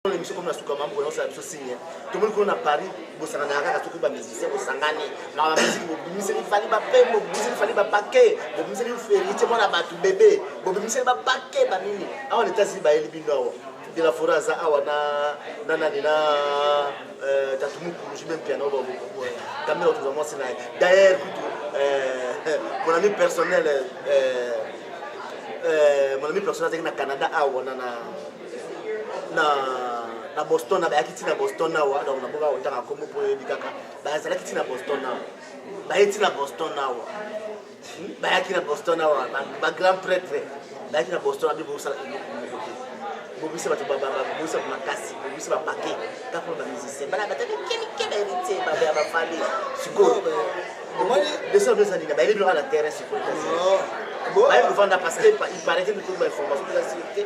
na biso komi na suka mambo yango ya biso signe tomoni kuna na paris bosangana ya kaka soki bamusicien bosangani maka bamiziki bobimiseli fali bapembo bobimiseli fali bapake bobimiseli ferite mwana bato bebe bobimiseli bapake banini awa na etats-unis bayeli bino awa de la foret aza awa na na nani na euh, tatu mukulu je même piano kamera otoza mwasi na ye d'ailleurs kutu euh, mon ami personnel euh, mon ami personnel azalaki na canada awa na na na na boston na bayaki ti na boston awa donc naboka kotanga nkombo mpo oyebi kaka bazalaki ti na boston awa baye ti na boston awa hmm? bayaki na boston awa bagrand prêtre bayaki na boston abi bosala eloko moko te bobisa bato bobisa makasi bobisa bapake kaka na bamusicien bana bataki kemike baheritier babe ya bafali sikoyo omoni desordre ezali na bayeli biloko na terrain sikoyo bayebi kovanda parce que il paraît que mikolo bainformation eza sirte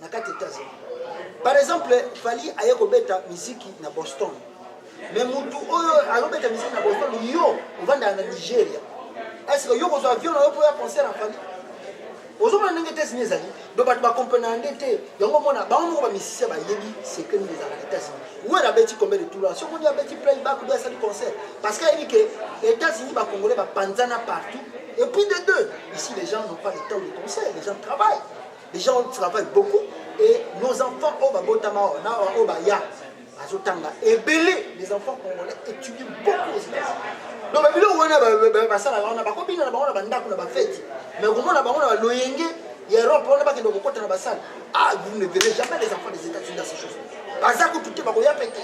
na kati ya Etats-Unis. Par exemple, Fally aye kobeta miziki na Boston. Mais mutu oyo alobeta miziki na Boston, yo ovandaka na Nigeria. Est-ce que yo kozwa avion na yo mpo ya concert ya Fally? ozomona ndenge États-Unis ezali donc bato bakomprenaka nde te yango omona bango moko bamisicien bayebi secret nini ezalaka na États-Unis wera abeti combien de tour soki oni abeti playback obi asali concert parce que ayebi ke États-Unis bacongolais bapanzana partout et puis de deux ici les gens n'ont pas le temps de concert les gens travaillent les gens ont travaillent beaucoup et nos enfants oyo babotama awa na awa oyo baya azotanga ebele les enfants congolais étudient beaucoup aux États-Unis donc babiloko wana basalaka wana bakobina na bango na bandako na bafeti mais komona bango na baloyenge ya europe wana bakende kokota na basale ah vous ne verrez jamais les enfants des états-unis dans ces choses baza kutu te bakoya mpe te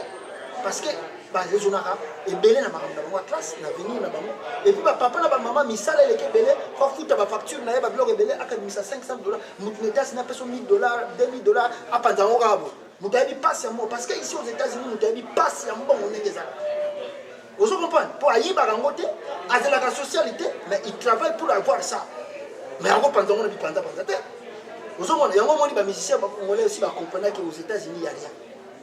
parce que ba raisonnaka ebele na makambo na bango ya classe na avenir na bango epuis bapapa na bamama misala eleki ebele po afuta bafacture na ye babiloko ebele akabimisa 500 dollar moto na etats-unis apeso 1000 dollar 2000 dollar apanza yango kaka bo moto ayebi mpasi ya mbongo parce que ici aux états-unis moto ayebi mpasi ya mbongo ndenge ezala ozo comprendre mpo ayibaka yango te azelaka sociale te mais il travaille pour avoir ça mais yango panza yango na bipanzapanza te ozomona yango omoni bamusicien bakongolais osi bacomprenaki aux états-unis ya rien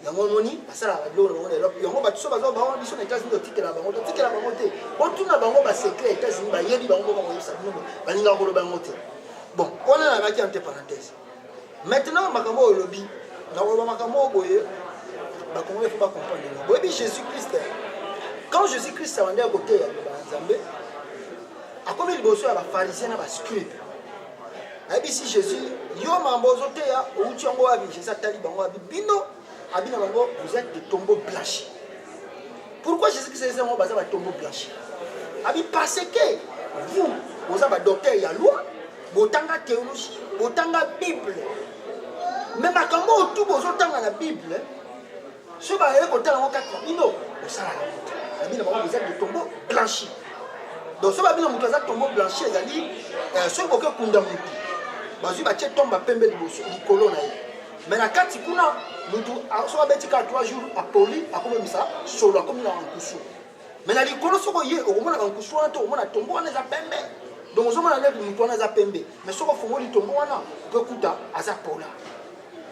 yango omoni basalaka babiloko na bango na elope yango bato so baza bango biso na etats-unis totikela bango totikela bango te botuna bango basecret ya etats-unis bayebi bango boko bakoyebisa bino balingaka koloba yango te bon wana nalaki ante parenthèse maintenant makambo oyo olobi nakoloba makambo oyo boye bakongole fo bacomprendre yango boyebi jésus christ quand jésus christ abandaki koteya liloba ya nzambe akomi liboso ya bafarisien na bascribe ayebisi jésus yo mambo ozoteya outi yango wapi jésus atali bango abi bino abi na bango vous êtes de tombeau blanche pourquoi jésus christ ayebisi yango baza batombeau blanche abi parce que vous boza badocteur ya loi botanga théologie botanga bible me makambo oyo tu bozotanga na bible soki baye kotala yango kati na bino bosala na moto na bino bango eza bitombo blanchi donc soki babino moto aza tombo blanchi ezali euh, soki boke kunda motu bazwi batie tomba pembe liboso likolo na ye me na kati kuna motu soki abeti kaka 3 jours apoli akomemisa solo akomi na nkusu me na likolo soki oye okomonaka nkusu wana te okomona tombo wana eza pembe donc ozomona nde motu wana aza pembe me soki ofungoli tombo wana okokuta aza pola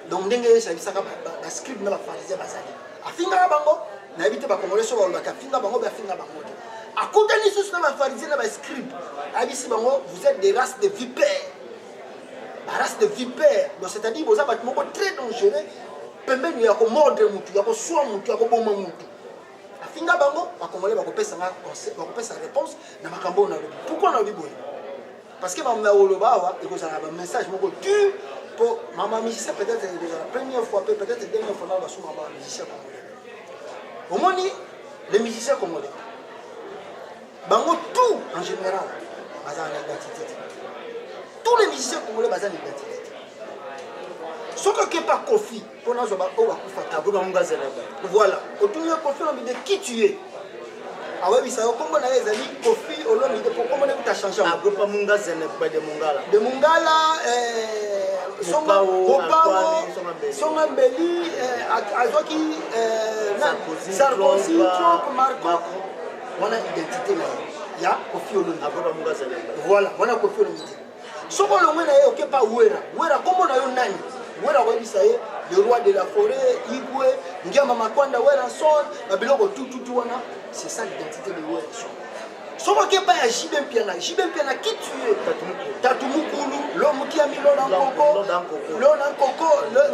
donc ndenge yesu ayebisaka bascribe na bafarisien bazali afingaka bango nayebi te bakongole so balobaki afinga bango be afinga bango te akutani lisusu na bafarisien na bascribe ayebisi bango vous êtes des races de vipère barace de vipère donc c'est à dire boza bato moko très dangereux pembeni ya komordre motu ya koswa motu ya koboma motu afinga bango bakongole bakopesa réponse na makambo oyo nalobi pourkui nalobi boye Parce que maman nakoloba awa ekozala na bamessage moko dur mpo mama musicien peut-être ekozala première fois mpe peut-être dernière fois nao basuma ba musicien congolais omoni les musiciens congolais bango tout en général bazala na identité te tous les musiciens congolais baza na identité te soki okepa kofi mpo nazwa baoyo bakufaka akoki bango ngazela voilà otuni yo kofi olomide qui tu es awebisa yo nkombo na ye ezali kofi olomide mpo nkombo naye kuta change agopa munga zenekba de mungala de mungala eh, mopao songa mbeli eh, azwaki eh, sarkozy trump marco wana identité na ye ya kofi olomide voilà wana kofi olomide soki olongwe na ye oke pa wera wera kombo na yo nani wera koyebisa ye le roi de la forêt igwe ngiama makwanda werason na biloko tututu wana c'est ça l'identité de werason soki oke pa ya jibe mpiana jibe mpiana ki tue tatu mukulu lo moki ya milo na nkoko lo na nkoko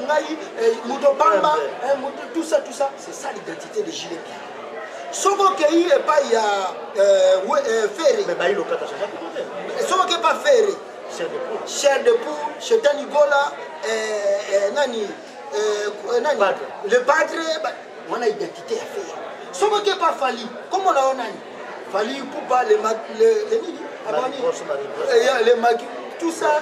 ngai eh, moto bamba eh, tout ça tout ça c'est ça l'identité de jibe mpiana soki okei epai ya ferre soki okei epai ferre chair de poule shetani gola nani nani le padre wana identité ya ferre soki okei epai fali kombo na yo nani fali pupa le nini le maki tout ça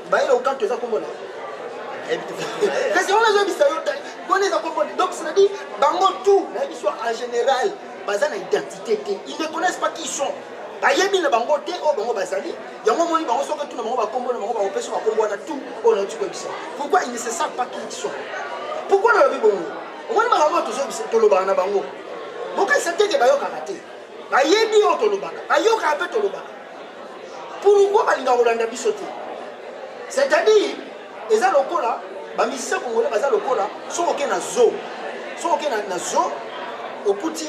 Bailo Nkanto eza kombo na ye. Kasi wana azoyebisa yo wana eza kombo na donc c'est-à-dire bango tout nayebi so en général baza na identité te ils ne connaissent pas qui sont bayebi na bango te oyo bango bazali yango omoni bango soki tuna bango bakombo na bango bakopesa bakombo wana tout oyo nauti koyebisa pourquoi ils ne se savent pas qui ils sont pourquoi nalobi bongo omoni makambo oyo tozoyebisa tolobaka na bango bokanisa teke bayokaka te bayebi oyo tolobaka bayokaka mpe tolobaka pourquoi balingaka kolanda biso te c'est-à-dire eza lokola bamisisa kongola baza lokola soki oke na zo soki oke na zo okuti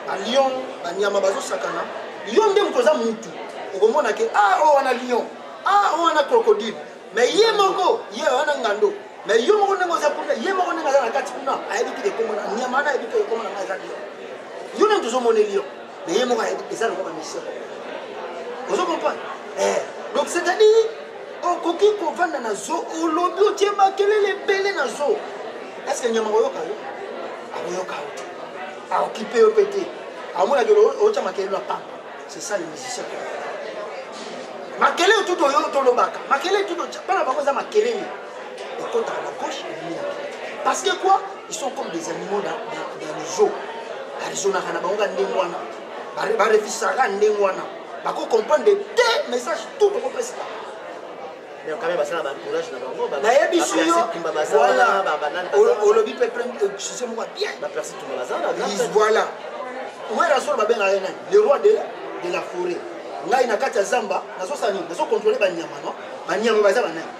balion banyama bazosakana yo nde moto oza mutu okomona ke a ah, oyo oh, wana lion a ah, oyo oh, wana crocodile mais ye moko ye wana ngando mais yo moko ndenge oza kuna ye moko ndenge aza na kati kuna ayebi te ekomona nyama wana ayebi te ekomona ngai eza lion yo nde moto ozomoneli yo mais ye moko ayebi eza lokola mission ozo comprendre eh donc c'est à dire okoki kovanda na zo olobi otie makelele ebele na zo est ce que nyama koyoka yo akoyoka yo te aokipe yo mpe te amonaki otya makelelo ya pamba c'est ça les musiciens makelele tutu oyo tolobaka makelele tutu bana bango eza makelele ekotaka na gauche ebimi na parce que quoi ils sont comme des animaux dans, dans, dans les eaux barizonaka na bango ka ndenge wana barefisaka ndenge wana bako comprendre te message tout okopesa nayebisi yoolobi mpe sise moko bienvoila wera solo babengaka ye nani le roi de la forêt ngai na kati ya zamba nazosala nini nazokontrole banyama no banyama baza banani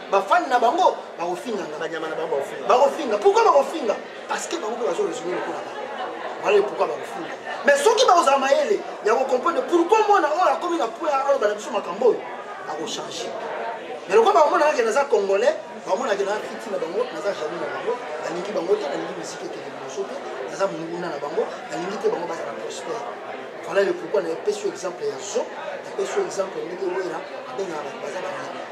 bafani na bango bakofinganga banyama na bango bakofinga pourkui bakofinga parce que bango mpe bazo raisonne lokola bango wana pourkui bakofinga mais soki bakozala mayele ya kocomprendre pourkui mwana oyo akomi na poi aloba na biso makambo oyo akochange mais lokola bamonaka ke naza congolais bamonaka naza fiti na bango naza jaloux na bango nalingi bango te nalingi misiki ekende liboso te naza monguna na bango nalingi te bango bazala prospère voilà le pourkui na epesi yo exemple ya zo napesi yo exemple ndenge wera abengaka bato baza banyama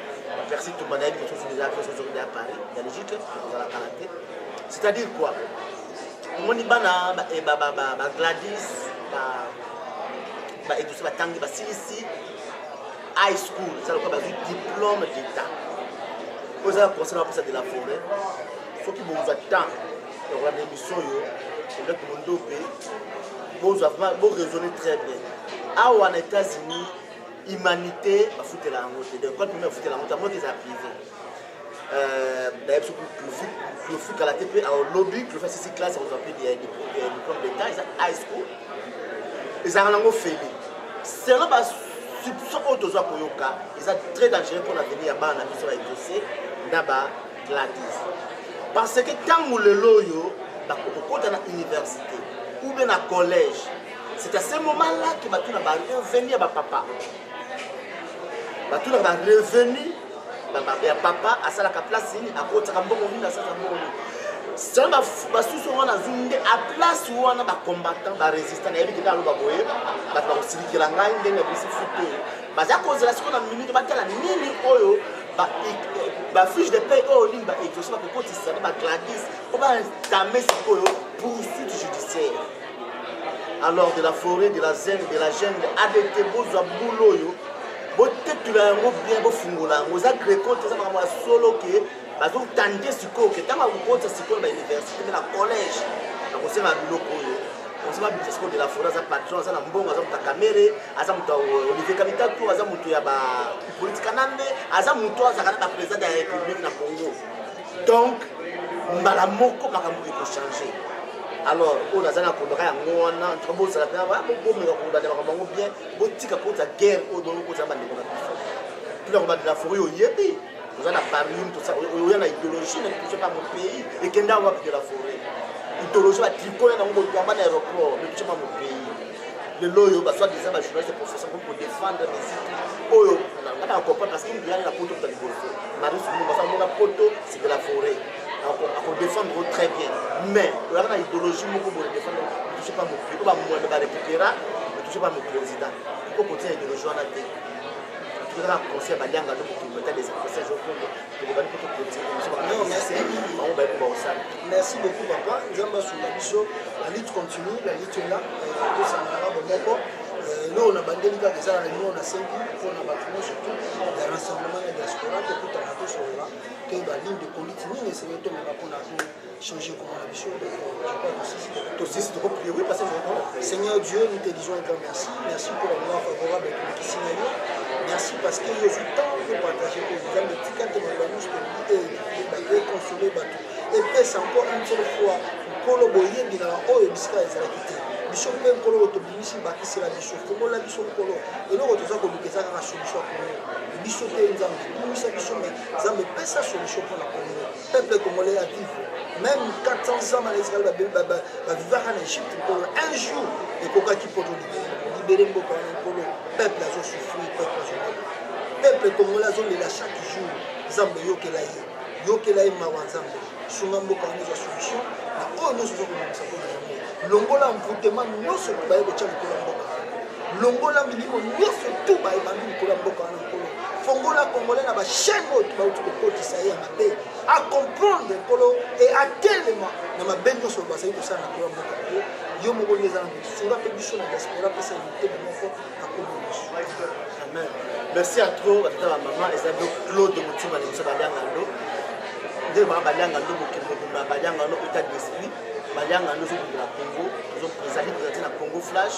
Percy Tumba nayebi que soki eza mpe soki ya Paris ya logique kozala kala te c'est-à-dire quoi omoni bana ba eh, Gladys ba eduse batangi basilisi high school eza lokola bazwi diplôme d'état oyo eza na conseil na bapesa de la forêt soki bozwa temps ya kolanda émission oyo eleki mondope bozwa vraiment boraisonne très bien awa na états-unis humanité bafutela yango te donc quand meme afutela yango te yango eza privé euh, d'ailleurs biso clofi kala te mpe alobi clofi asisi classe akozwa mpe diplôme d'état eza high school ezalaka nango feli selon basubso oyo tozwa koyoka eza très dangereux mpo na veni ya bana na biso baexauce na bagladis parce que ntango lelo oyo bakokota na université ou bien na collège C'est à ce moment-là que bato na ba revenu ya ba papa. Bato na ba revenu ya papa asalaka place nini akotaka mbongo nini asalaka mbongo nini selo basusu wana azwi nde a place wana bacombattant barésistant nayebi kende aloba boye bato bakosilikela ngai ndenge yabisi futu oyo baza kozela sikoyo na minute batala nini oyo bafiche de pay oyo nini baexauce bakokotisa na bagladis mpo baentame sikoyo poursuite judiciaire alors de la forêt de la zene de la jungle adt bozwa bulu oyo botetula yango bien bofungola yango eza greco te eza makambo ya solo ke bazotande sikoyo ke ntango akokotisa sikoyo na bauniversité mpe na collège nakosenga biloko oyo osema bibisa sikoyo de la forêt aza patron aza na mbongo aza moto ya kamere aza moto ya euh, olivier kamitatu aza moto ya bapolitika na nde aza moto azalaka na bapresident ya république na congo donc mbala moko makambo ekochange alors oyo naza na kondaka yango wana ntuka bozala mpe bomeka kobanda makambo yango bien botika kota guerre oyo bongo kozala bandeko na biso tuna kobandela fori oyebi oza na parium tosa oya na idéologie na touche pas mon pays ekenda wapi de la forêt idéologie batrikole nango boyamba na aéroport na touche pas mon pays lelo oyo baswadi eza ba journaliste profession komi kodefendre musique oyo nga na comprendre parce que ngilani na poto kuta liboso marie sumbu basala mona poto c'est de la forêt akodefendre o très bien mais oyaka na idéologie moko boye defendre touche pas mokili oyo bamwana barekupera touche pas moprésident iko kotia idéologie wana te tokaka conseil balianga to mokili meta des conseils okondo tokobandi kutu kotiki biso bamusicien bango bayebi bakosala merci beaucoup papa nzambe asunga biso la lutte continue la lutte est là euh, tosanganaka bomoko euh, eloko na bandeli kaka eza na limo na sengi mpo na bato nyonso tu ya rassemblement ya diaspora tokutana tosolola toyeba ligne de conduite nini esengeli tomema mpo na changer comment la mission tosisi toko prier oui parce que Seigneur Dieu nous te disons un grand merci merci pour la moment favorable à tout kisi na yo merci parce que yo ozwi temps yo partage ko nzambe tika te maloba nyonso tolingi ekonsole bato epesa encore une seule fois nkolo boyebi na oyo bisika ezalaki te biso mpe nkolo oyo tobimisi bakisela biso fongola biso nkolo eloko toza koluka eza kaka solution ya kongo biso te nzambe bimisa biso me nzambe pesa solution mpo na kongo peuple congolais a vivre même 400 ans bana israel bavivaka na egypte nkolo un jour ekokaki poto libere mboka wana nkolo peuple azosouffrir peuple azolela peuple congolais azolela chaque jour nzambe yokela ye yokela ye mawa nzambe sunga mboka wana ezwa solution na oyo nyonso ozokomamisa mpona yango longola mvutema nyonso baye kotya likolo ya mboka longola milimo nyonso tu baye bandi likolo ya mboka wana fongola congolais na bachaine oyo bauti kokotisa ye ya mabe acomprendre nkolo e atelema na mabe nyonso bazali kosala na koya mboka na ye yo moko nde eza na sunga mpe biso na diaspora pesa mitema moko akomi biso amen merci à trop batata ba mama eza ndo claude motima na biso balianga ndo nde mama balianga ndo mokili mobimba balianga ndo état d'esprit balianga ndo ezobundela congo ezali présente na congo flash